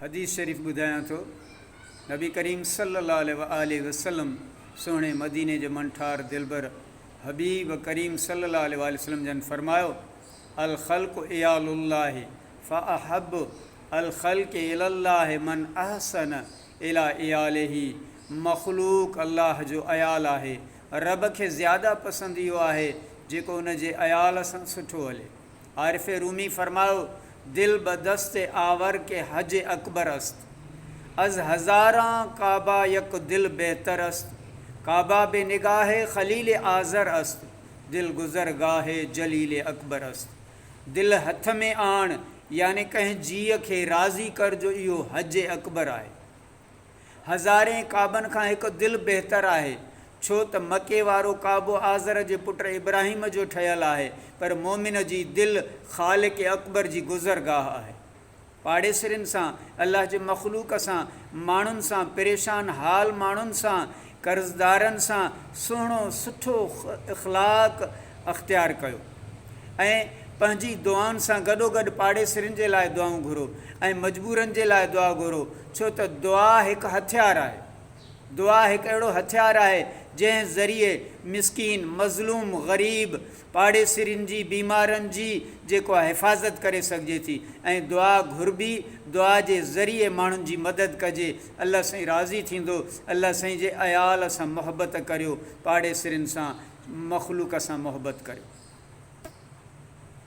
حديث شريف ٻڌايان ٿو، نبي ڪريم صلي الله عليه وآله وسلم سهڻي مديني جي منٺار دلبر حبيب ڪريم صلي الله عليه وآله وسلم جن فرمايو، الخلق عيال الله فاحب الخلق الي الله من احسن الي عياله مخلوق الله جو عيال آهي، رب کي زياده پسند اهو آهي جيڪو ان جي عيال سان سٺو هلي. عارف رومي فرمايو، دل به دست آور که حج اڪبر است، از هزاران کعبه یک دل بهتر است، کعبه به نگاه خليل آزر است، دل گذرگاه جليل اڪبر است. دل هٿ ۾ آڻ يعني ڪنهن جيء کي راضي ڪر جو اهو حج اڪبر آهي. هزارين ڪعبن کان هڪ دل بهتر آهي، ڇو ته مڪي وارو ڪعبو آزر جي پٽ ابراهيم جو ٺهيل آهي، پر مؤمن جي دل خالق اڪبر جي گذرگاهه آهي. پاڙيسرين سان، الله جي مخلوق سان، ماڻهن سان، پريشان حال ماڻهن سان، قرضدارن سان سهڻو سٺو اخلاق اختيار ڪيو ۽ پنهنجي دعائن سان گڏوگڏ پاڙيسرين جي لاء دعائون گهرو ۽ مجبورن جي لاء دعا گهرو ڇو ته دعا هڪ هٿيار آهي دعا هڪ اهڙو هٿيار آهي جنهن ذريعي مسڪين مظلوم غريب پاڙيسرين جي بيمارن جي جيڪو حفاظت ڪري سگهجي ٿي ۽ دعا گهربي دعا جي ذريعي ماڻهن جي مدد ڪجي الله سائين راضي ٿيندو. الله سائين جي عيال سان محبت ڪريو پاڙيسرين سان مخلوق سان محبت ڪريو.